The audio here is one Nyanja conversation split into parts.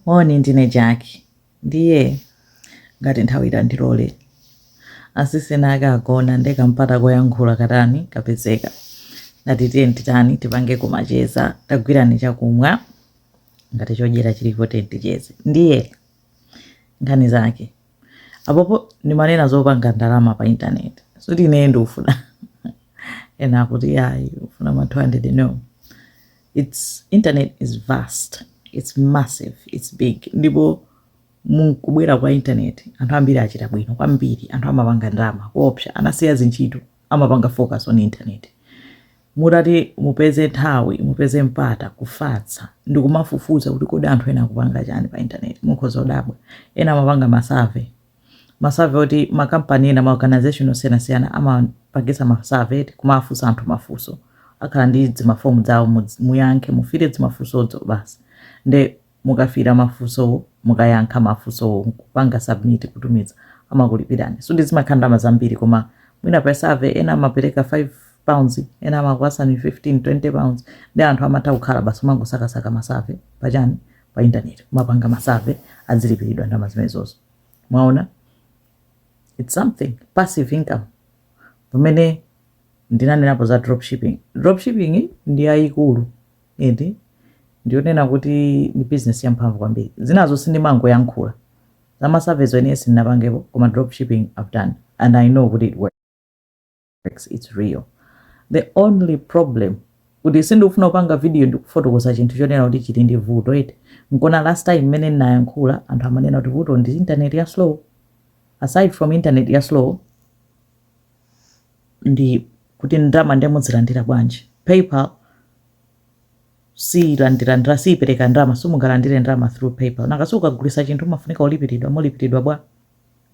Moni, ndine Jaki. Ndiye ngati nthawi itandilole. Asisi anakagona nde kampata koyankhula katani kapezeka. Ndati tiyeni titani tipangeko macheza. Tagwirani chakumwa ngati chodyera chilipo tiyeni ticheze. Ndiye nkhani zake. Apopo ndimanena zopanga ndalama pa intaneti. Sikuti ineyo ndikufuna. Ena akuti ayi ufuna ma 200 no. Internet is vast its massive its big ndipo mukubwera kwa internet anthu ambiri achita bwino kwambiri anthu amapanga ndalama koopsa anasiya zintchito amapanga focus on internet mutati mupeze nthawi mupeze mpata kufatsa ndikumafufuza kuti kodi anthu ena akupanga chani pa internet mukhoza kudabwa ena amapanga ma survey ma survey oti ma company ena ma organization osiyanasiyana amapangisa ma survey kumafunsa anthu mafunso akhala ndi zimafomu zawo mudz- muyankhe mufire zimafunsozo basi nde mukafira mafunsowo mukayankha mafunsowo kupanga submit kutumiza amakulipirani sizimakhala ndalama zambiri koma mwina pa survey ena amapereka 5 pounds ena amakupatsani 15 20 pounds ndi anthu amatha kukhala basi umangosakasaka ma survey pachani pa intaneti kumapanga ma survey azilipiridwa ndalama zimenezozo mwaona its something passive income pamene ndinanenapo za dropshipping dropshipping ndi yayikulu eti ndiyonena kuti ndi business yamphamvu kwambiri zinazo sindimangoyankhula za ma survey-zo ine sindinapangepo koma dropshipping i've done and i know kuti it works works, it's real. The only problem kuti sindikufuna kupanga video ndikufotokoza chinthu chonena kuti chili ndi vuto eti nkona last time mmene ndinayankhula anthu amanena kuti vuto ndi internet ya slow aside from internet ya slow ndi kuti ndalama ndiye muzilandira bwanji paypal siilandira ndalama siipereka ndalama simungalandire ndalama through paypal nanga si ukagulisa chinthu umafunika ulipiridwa mulipiridwa bwa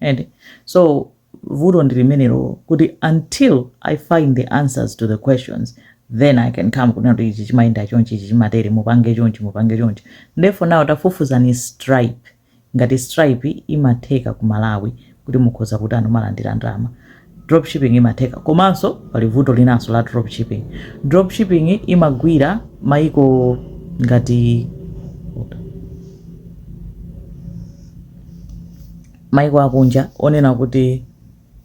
and so vuto ndi limenelo kuti until i find the answers to the questions then i can come kunena kuti ichi chimayenda chonchi ichi chimatere mupange chonchi mupange chonchi ndiye for now tafufuzani stripe ngati stripe imatheka ku malawi kuti mukhoza kutani kumalandira ndalama Dropshipping imatheka. Komanso pali vuto linanso la dropshipping. Dropshipping imagwira mmaiko ngati maiko akunja onena kuti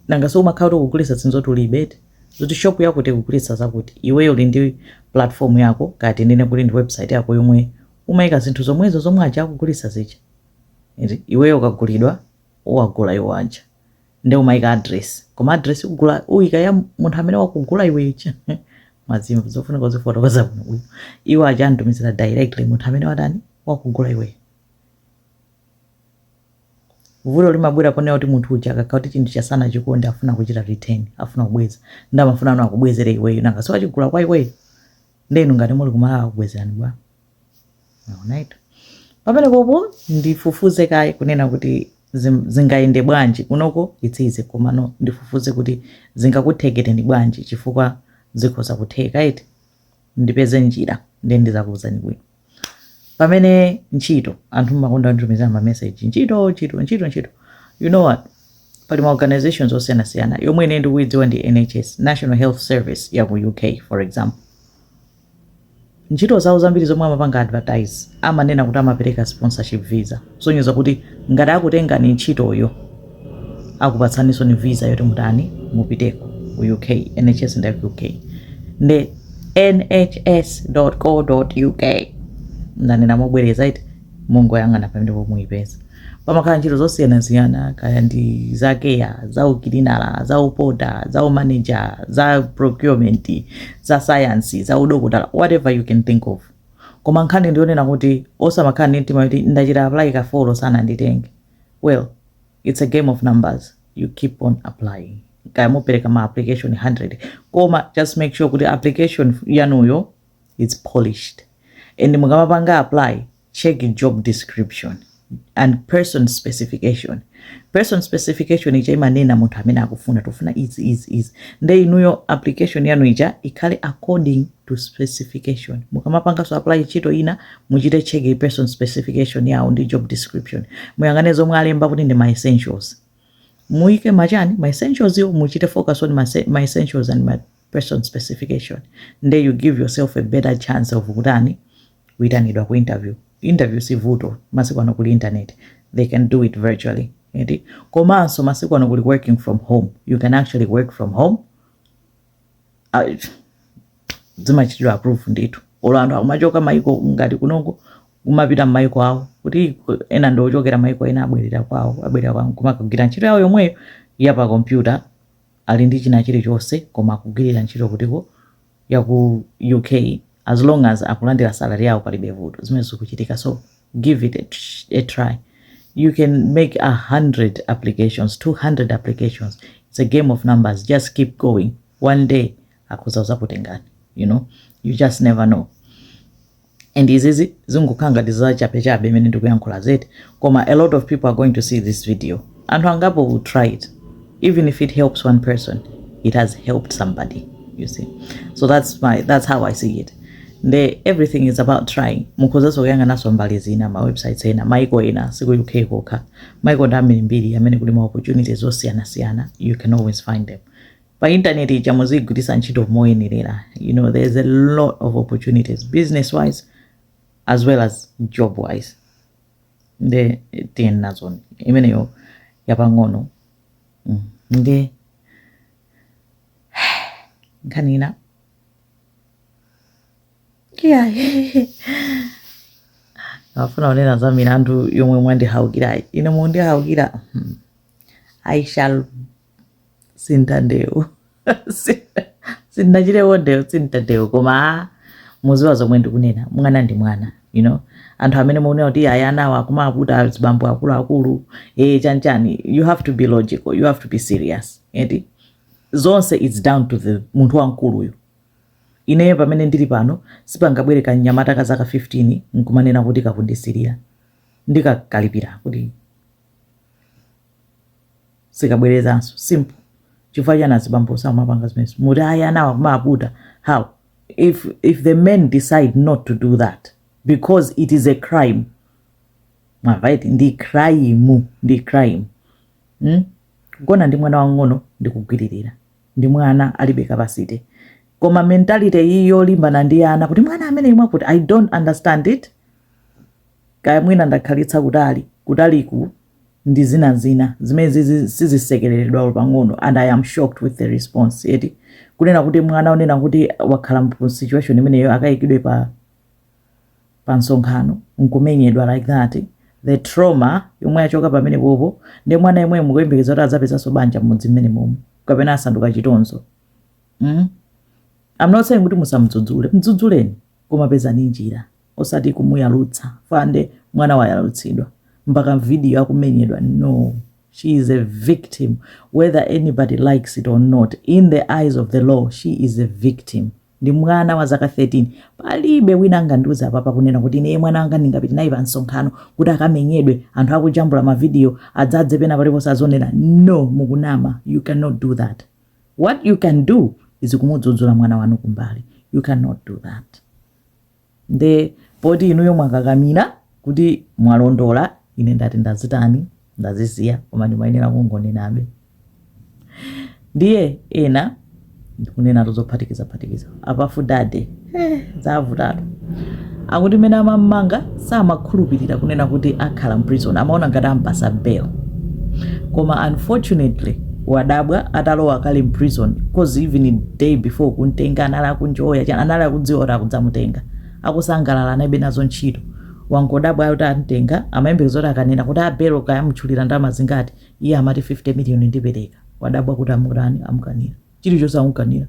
nanga si umakhala kuti ukugulitsa zinthu zoti ulibe eti zoti shop yakuti ikugulitsa zakuti iweyo uli ndi platform yako kaya tinene kuti ndi website yako yomwe umayika zinthu zomwezo zomwe aja akugulitsa zija eti iweyo ukagulidwa uwagula iwo aja nde umayika address koma address uja uyika ya munthu amene wakugula iweyo zimenezi mazimva zofunika kuzifotokoza bwino iwo aja atumizira directly munthu amene watani wakugula iweyo vuto limabwera poonena kuti munthu uja akakhala kuti chinthu chija sanachikonde afuna kuchita return afuna kubweza nde amafunano akubwezere iweyo nanga si achigula kwa iweyo nde inu ngati muli kumalawi akubwezerani bwa mwaonatu pamenepopo ndifufuze kaye kunena kuti zim- zingayende bwanji kunoko it's easy komano ndifufuze kuti zingakutheketeni bwanji chifukwa zikhoza kutheka eti ndipeze njira nde ndizakuuzani bwino pamene ntchito anthu mmakonda kunditumizira ma message ntchito ntchito ntchito ntchito you know what pali ma organizations osiyanasiyana yomwe ine ndikuidziwa ndi nhs national health service ya ku uk for example ntchito zawo zambiri zomwe amapanga advertise amanena kuti amapereka sponsorship visa kusonyeza kuti ngati akutengani ntchitoyo akupatsaninsoni visa yoti mutani mupiteko ku uk nhs ndi ya ku uk nde nhs co uk ndanena mobwereza eti mungoyang'ana pamenepo muyipeza pamakhala ntchito zosiyanasiyana kaya ndi za care za ukilina za upota za umanager za procurement za sayansi za udokotala whatever you can think of Koma nkhani ndiyonena kuti osamakhala ndi mtima yoti ndachita apply ka 4 sananditenge well its a game of numbers you keep on applying kaya mupereka ma application 100 koma just make sure kuti application yanuyo is polished and mukamapanga apply check job description and person specification person specification ija imanena munthu amene akufuna tufuna izi izi izi nde inuyo application yanu ija ikhale according to specification mukamapanganso apply ntchito ina muchite check person specification yawo ndi job description muyang'ane zomwe alemba kuti ndi ma essentials muike machani ma essentials wo muchite focus on ma, se- ma essentials and ma person specification nde you give yourself a better chance of kutani kuitanidwa ku interview interview si vuto masiku ano kuli internet they can do it virtually eti komanso masiku ano kuli working from home you can actually work from home Ah, zimachitidwa approve ndithu olo anthu akumachoka maiko ngati kunoko kumapita mmaiko awo kuti ku- ena ndi ochokera maiko ena abwerera kwawo abwerera kwawo kumakagwira ntchito yawo yomweyo ya pa kompyuta ali ndi china chilichonse koma akugwirira ntchito kutiko ya ku uk as long as akulandila salary yawo palibe vuto zimenezo zikuchitika so give it a, tr- a try you can make 100 applications 200 applications it's a game of numbers just keep going one day akhoza kuzakutengani you know you just never know and izizi zingokhala ngati za chapechape imene ndikuyankhula eti koma a lot of people are going to see this video anthu angapo will try it even if it helps one person it has helped somebody you see so that's my that's how i see it nde everything is about trying mukhozanso kuyang'ananso mbali zina ma websites ena maiko ena siku uk kokha maiko ndi ambirimbiri amene kuli ma opportunities zosiyanasiyana you can always find them pa internet ija muzigwiritsa ntchito moyenerera you know there is a lot of opportunities business wise as well as job wise nde tiyeni nazoni imeneyo yapang'ono mm. nde nkhani ina iya afuna kunena za milandu yomwe mwandiukirayi ine mundihaukira hmm. i shall si mtandewu sindinakhale wa ndewu si mtandewu koma mudziwa zomwe ndikunena mwana ndi mwana you know anthu amene mukunena kuti ayi anawo akumaputa azibambo akuluakulu ee chanchani you have to be logical you have to be serious eti zonse its down to the munthu wamkuluyo ineyo pamene ndili pano sipangabwere kanyamata ka zaka 15 nkumanena kuti kakundisilira ndikakalipira kuti sikabwerezanso simple chifukwa chani azibambo samapanga zimenezo muti ayi anawa akumaputa how if, if the men decide not to do that because it is a crime right ndi crime ndi crime hmm? kugona ndi mwana wang'ono ndi kugwiririra ndi mwana alibe capacity koma mentality iyi yolimbana ndi ana kuti mwana amene imwe puti i don't understand it kaya mwina ndakhalitsa kutali kutaliku ndi zinazina zimene zizi sizisekeleredwa olo pang'ono and i am shocked with the response eti kunena kuti mwana onena kuti wakhala mu situation imeneyo akayikidwe pa pa msonkhano nkumenyedwa like that the trauma yomwe yachoka pamenepopo ndi mwana yemwe mukuyembekeza kuti adzapezanso banja mmudzi mmenemomwe kapena asanduka chitonzo mm? I'm not saying kuti musamdzudzule mdzudzuleni koma pezani njira osati kumuyalutsa fande mwana wayalutsidwa mpaka video akumenyedwa no she is a victim whether anybody likes it or not in the eyes of the law she is a victim ndi mwana wa zaka 13 palibe wina angandiuze apa pakunena kuti ine mwana wanga ndingapite naye pa msonkhano kuti akamenyedwe anthu akujambula mavidiyo adzadze pena paliponse azionera no mukunama you cannot do that what you can do is kumudzudzula mwana wanu kumbali you cannot do that nde poti inuyo mwakakamira kuti mwalondola ine ndati ndazitani ndazisiya koma ndimayenera kungonenabe ndiye ena ndikunena tozophatikiza phatikiza a Puff Daddy eh, zavutatu akuti mene amam'manga samakhulupirira kunena kuti akhala mprison amaona ngati ampasa bail koma unfortunately wadabwa atalowa kale mprison coz even day before kumtenga anali akunjoya chani anali akudziwa kuti akudzamutenga akusangalala analibe nazo ntchito wangodabwa kuti amtenga amayembekeza kuti akanena kuti a belo kaya amutchulira ndalama zingati iye amati 50 million ndipeleka wadabwa kuti amutani amukanira chilichonse amukanira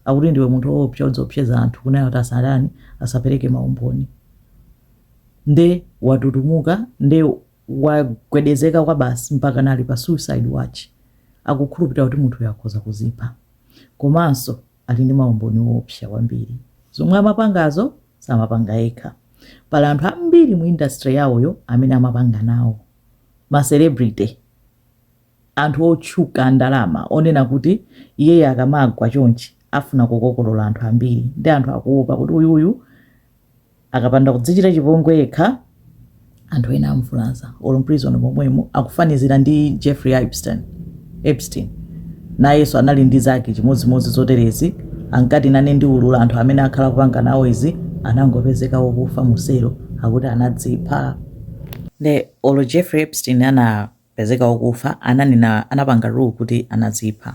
akuti ndiwe munthu oopsa udziopseza anthu kunena kuti asatani asapeleke maumboni nde watutumuka nde wagwedezeka kwabasi mpaka ali pa suicide watch akukhulupilira kuti munthuyo akhoza kuzipha komanso ali ndi maumboni oopsa kwambiri zomwe amapangazo samapanga yekha pali anthu ambiri mu industry yawoyo amene amapanga nawo ma celebrity anthu otchuka andalama onena kuti iyeyi akamagwa chonchi afuna kukokolola anthu ambiri nde anthu akuopa kuti uyuyu akapanda kudzichita chipongwe yekha anthu ena amvulaza olo mprison momwemo akufanizira ndi jeffrey epstein nayenso anali ndi zake chimodzimodzi zoterezi ankati nane ndiulula anthu amene akhala kupanga nawo izi anangopezeka wokufa muselo akuti anadzipha nde olo jeffrey epstein ana pezeka okufa ananena anapanga rule kuti anadzipha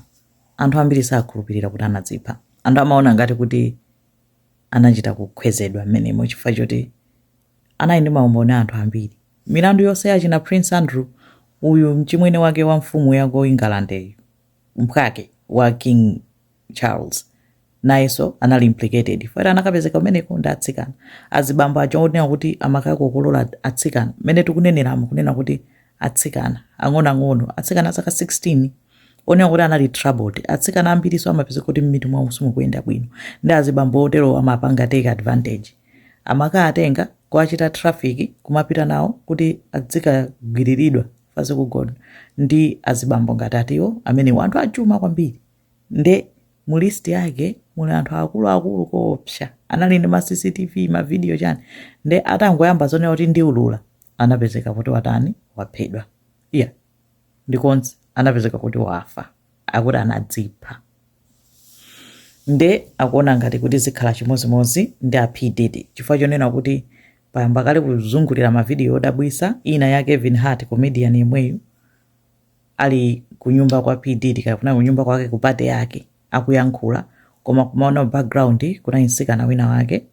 anthu ambiri sakhulupirira kuti anadzipha anthu amaona ngati kuti anachita kukhwezedwa mmenemo chifukwa choti anali ndi maumboni a anthu ambiri milandu yonse yachina prince andrew uyu mchimwene wake wa mfumu ya ku england mphwake wa king Charles nayenso anali implicated chifukwa choti anakapezeka kumeneko ndi atsikana azibambo aja onena kuti amakakokolola atsikana mmene tikuneneramu kunena kuti atsikana ang'onoang'ono atsikana azaka 16 onena kuti anali troubled atsikana ambirinso amapezeka kuti m'mitu mwawo simukuyenda bwino nde azibambo otero amapanga take advantage amakaatenga kuwachita traffic kumapita nawo kuti adzikagwiriridwa basi kugona ndi azibambo ngati atiwo amene anthu achuma kwambiri Nde mu list yake muli anthu akulu akulu koopsa anali ndi ma cctv ma video chani nde atangoyamba zonena kuti ndiulula anapezeka kuti watani waphedwa eya ndipo anapezeka kuti wafa akuti anadzipha nde akuona ngati kuti zikhala chimozimozi ndi a P Diddy chifukwa chonena kuti payamba kale kuzungulira ma video odabwisa ina ya Kevin Hart comedian yemweyu ali kunyumba kwa P Diddy kaya kunali kunyumba kwake ku party yake akuyankhula koma kumaona pa background kunali mtsikana wina wake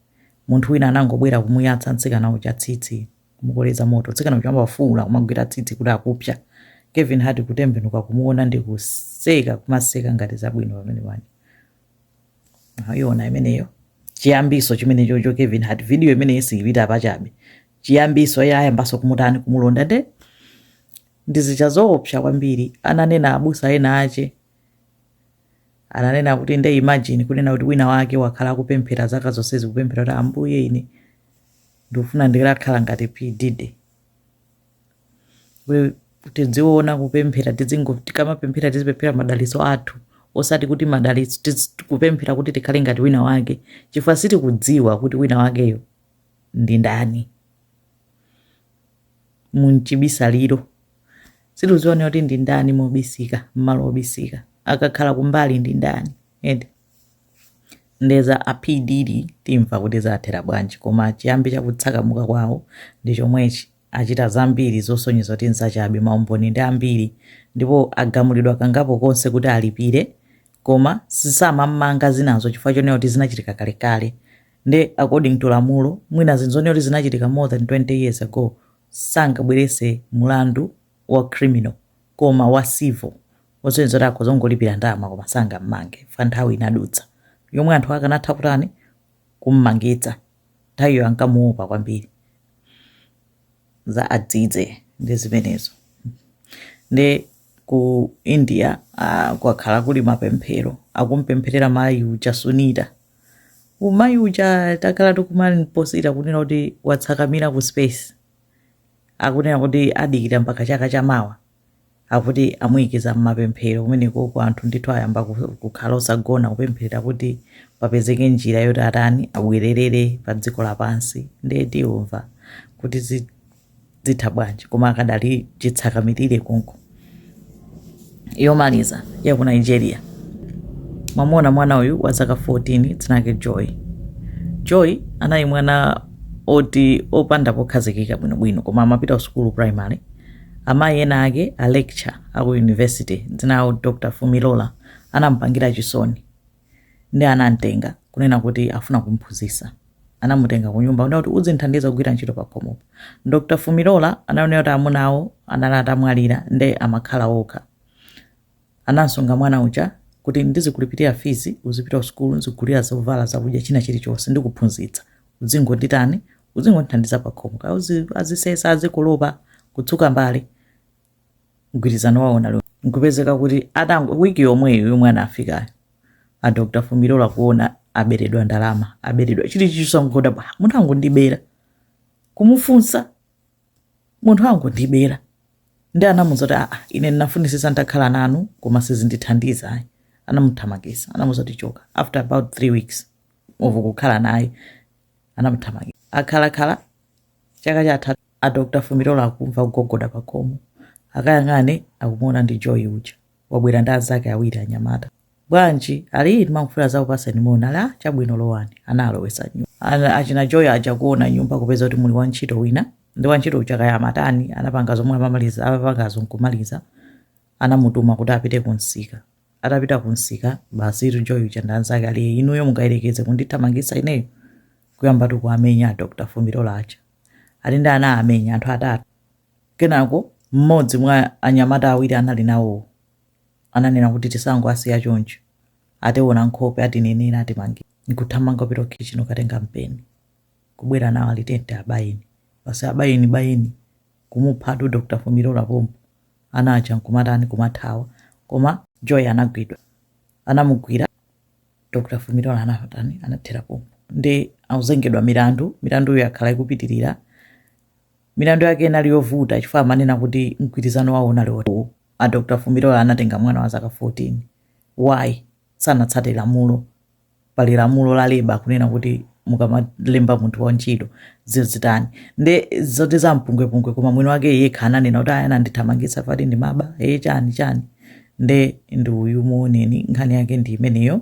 munthu wina anangobwera kumuyatsa mtsikana uja tsitsi kumukoleza moto mtsikana uja amafuula kumagwira tsitsi kuti akupsa Kevin Hart kutembenuka kumuona ndi kuseka kumaseka ngati zabwino pamene panja ayiona imeneyo chiyambinso chimene chocho Kevin Hart video imeneyo siyipita pachabe chiyambinso iye ayambanso kumutani kumulonda nde Ndi zija zoopsa kwambiri ananena abusa ena ache, ananena kuti nde imagine kunena kuti wina wake wakhala akupemphera zaka zonsezi kupemphera kuti Ambuye ine ndikufuna nditakhala ngati P Diddy kuti tidziona kupemphera tidzingo tikamapemphera tizipemphera madalitso athu osati kuti madalitso tiz- kupemphera kuti tikhale ngati wina wake chifukwa sitikudziwa kuti wina wakeyo ndi ndani mumchibisaliro sitikudziwa kuti ndi ndani mobisika mmalo obisika akakhala kumbali ndi ndani eh nde nde za a P Diddy timva kuti zathera bwanji koma chiyambi chakutsakamuka kwawo ndi chomwechi achita zambiri zosonyeza kuti nzachabe maumboni ndi ambiri ndipo agamulidwa kangapo konse kuti alipire koma samammanga zinazo chifukwa chonena kuti zinachitika kalekale nde according to lamulo mwina zinthu zonena kuti zinachitika more than 20 years ago sangabweretse mulandu wa criminal koma wa civil zosonyeza kuti akhoza kungolipira ndalama koma sangammange fa nthawi inadutsa yomwe anthu akanatha kutani kummangitsa nthawiyo ankamuopa kwambiri za a Diddy ndi zimenezo nde ku india uh, kwakhala kuli mapemphero akumpempherera mayi uja sunita mayi uja takhala tikumamposita kunena kuti watsakamira ku space akunena kuti adikira mpaka chaka cha mawa akuti amuyikiza mmapemphero kumenekoko anthu ndithu ayamba ku- kukhala osagona kupempherera kuti papezeke njira yoti atani abwererere pa dziko lapansi nde timva kuti zi- zitha bwanji koma akadali chitsakamirire konko yomaliza ya ku nigeria mwamuona mwana uyu wa zaka 14 dzinake joy joy anali mwana oti opanda pokhazikika bwinobwino koma amapita ku sukulu primary amayi ena ake a lecture aku university dzina lawo dr fumirola anampangira chisoni nde anamtenga kunena kuti afuna kumphunzitsa anamutenga kunyumba kunena kuti udzinthandiza kugwira ntchito pakhomopo dr fumirola ananena kuti amuna awo anali atamwalira nde amakhala okha anamsunga mwana uja kuti ndizikulipirira fees uzipita kusukulu nzigulira zovala zakudya china chilichonse ndikuphunzitsa udzingonditani udzingondithandiza pakhomo kaya uzi- azisesa azikolopa kutsuka mbale mgwirizano wawo unali uwo nkupezeka kuti atango wiki yomweyo yomwe anafikayo a dr fumirola kuona aberedwa ndalama aberedwa chilichonse angodabwa munthu angondibera kumufunsa munthu angondibera nde anamuuza kuti aa ine ndinafunisisa nditakhala nanu koma sizindithandiza ayi anamuthamangisa anamuuza kuti choka after about three weeks of kukhala naye anamuthamangisa akhalakhala chaka chathachi a dr fumirola akumva kugogoda pakhomo akayang'ane akumuona ndi joy uja wabwera ndi anzake awiri anyamata bwanji ali timangofuna tizakupatseni moni ali aa chabwino lowani anawalowesa m'nyumba ana- achina joy aja kuona m'nyumba kupeza kuti muli wantchito wina nde wantchito uja kaya amatani anapanga zomwe anamaliza amapangazo nkumaliza anamutuma kuti apite kunsika atapita kunsika basi itu joy uja ndi anzake ali inuyo mungayerekeze kundithamangisa ineyo kuyambatu kuamenya a dr fumirola aja ali nde anawamenya anthu atatu kenako mmodzi mwa anyamata awiri anali nawowo ananena kuti tisangowasiya choncho ationa nkhope atinenera atimanga nkuthamanga kupita kukhitchini kukatenga mpeni kubwera nawo ali tiyeni abayeni basi abayeni abayeni kumuphatu dr fumirola pompo ana aja nkumatani kumathawa koma joy anagwidwa anamugwira dr fumirola anatani anathera pompo nde akuzengedwa milandu milanduyo yakhala ikupitirira milandu yake inali yovuta chifukwa amanena kuti mgwirizano wawo unali woti a dr fumirola anatenga mwana wa zaka 14 why sanatsate lamulo pali lamulo la labour kunena kuti mukamalemba munthu wa ntchito muzitani nde zoti za mpungwepungwe koma mwini wake yekha ananena kuti ayi anandithamangisa ati ndimaba eya chani chani nde ndi uyu muoneni nkhani yake ndi imeneyo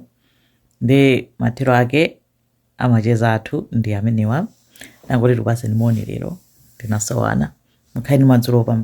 nde mathero ake a macheza athu ndi amenewa ndangoti tikupatseni moni lero tinasowana mukhale ndi madzulo opambana